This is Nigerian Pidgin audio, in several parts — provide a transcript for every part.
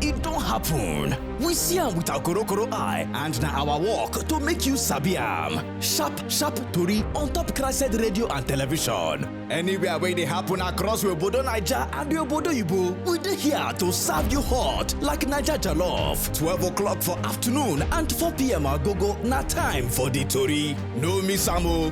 e don happen. We see am with our korokoro eye and na our work to make you sabi am. Sharp sharp tori on top Crested Radio and Television. Anywhere wey dey happen across we obodo Naija and we obodo Igbo, we dey here to serve you hot like Naija jollof. 12 o'clock for afternoon and 4 p.m. agogo na time for the tori. No miss am o.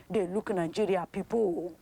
dey look Nigeria pipo.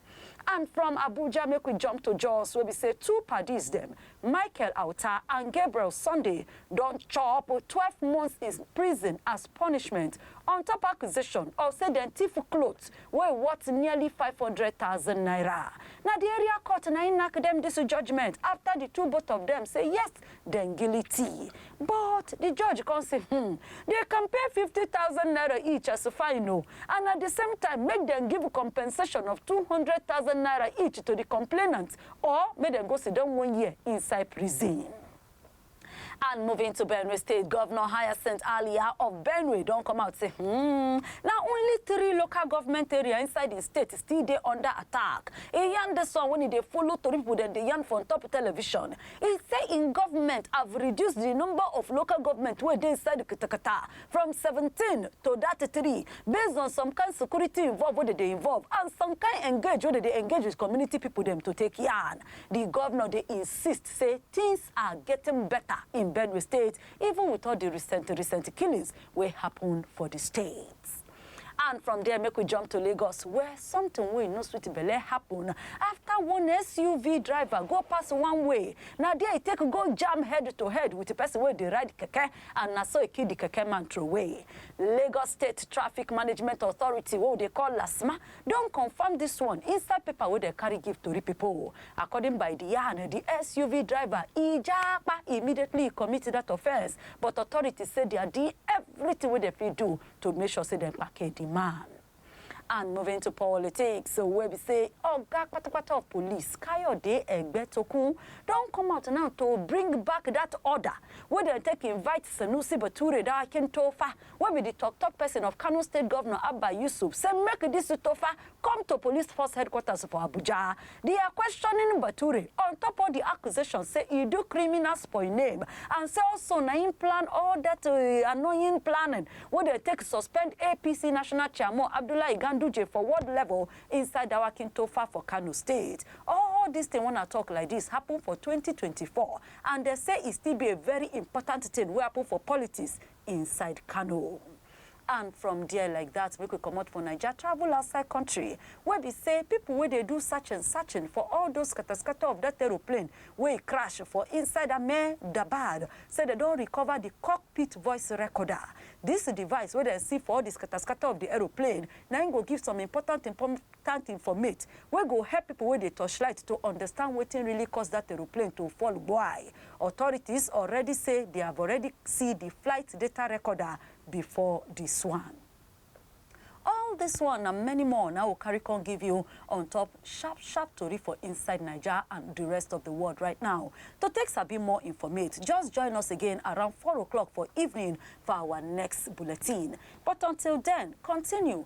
And from Abuja make we jump to Jos wey be say two padis dem, Michael Auta and Gabriel Sunday don chop twelve months in prison as punishment on top accusation of say dem thief cloth wey worth nearly five hundred thousand naira. Na di area court na im nack dem dis judgement afta di two both of dem say yes, dem gili tii but di judge come say hmm dey compare fifty thousand naira each as fine o and at di same time make dem give compensation of two hundred thousand naira each to di complainant or make dem go siddon one year inside prison. And moving to Benue State, Governor Hyacinth Alia of Benue don come out say hmm, na only three local government area inside di state still dey under attack. E yarn dis one wen e dey follow tori pipo dem dey yarn for on top television. E say im government have reduce di number of local government wey dey inside di katakata from seventeen to dat three based on some kain security involve wey dem dey involve and some kain engage wey dem dey engage wit community pipo dem to take yarn. Di govnor dey insist say tins are getting better in Benue state even wit all di recent recent killings wey happun for di state. And from there, make we jump to Lagos, where something wey no sweet belle happen after one SUV driver go pass one way. Na there e take go jam head to head with the person wey dey ride keke, and na so e kill the keke man throway. Lagos State Traffic Management Authority, wey we dey call LASTMA, don confirm this one inside paper wey dem carry give tori people. According by the yarn, the SUV driver e japa immediately e commit that offence, but authorities say their di everything wey dem fit do to make sure say dem kpake di man. And moving to politics wey be say oga kpatakpata of police, Kayode Egbetokun don come out now to bring back dat order wey dem take invite Sanusi Bature da Akintofa wey be di tok-tok pesin of Kano State Govnor Abba Yusuf say make dis Tofa come to police force headquarters for Abuja, they are questioning Bature on top all the accusations say he do criminal spoil name and say also na him plan all that uh, annoying planning wey dey take suspend APC national chairman Abdullahi Ganduje for world level inside Dawakin Tofa for Kano State. All this thing when I talk like this happen for 2024 and they say it still be a very important thing wey happen for politics inside Kano. And from there like that, make we comot for Naija, travel outside country, wey be say people wey dey do searching, searching for all those scatter scatter of that aeroplane wey e crash for inside Ahmedabad, say dem don recover the cockpit voice recorder. This device wey dem see for all the scatter scatter of the aeroplane, na im go give some important important informate wey go help people wey dey torchlight to understand wetin really cause that aeroplane to fall gboai. Authorities already say they have already see the flight data recorder before this one. All this one and many more now will carry con give you on top sharp sharp tori for inside Naija and the rest of the world right now. To take sabi more informate, just join us again around 4 o'clock for evening for our next bulletin. But until then, continue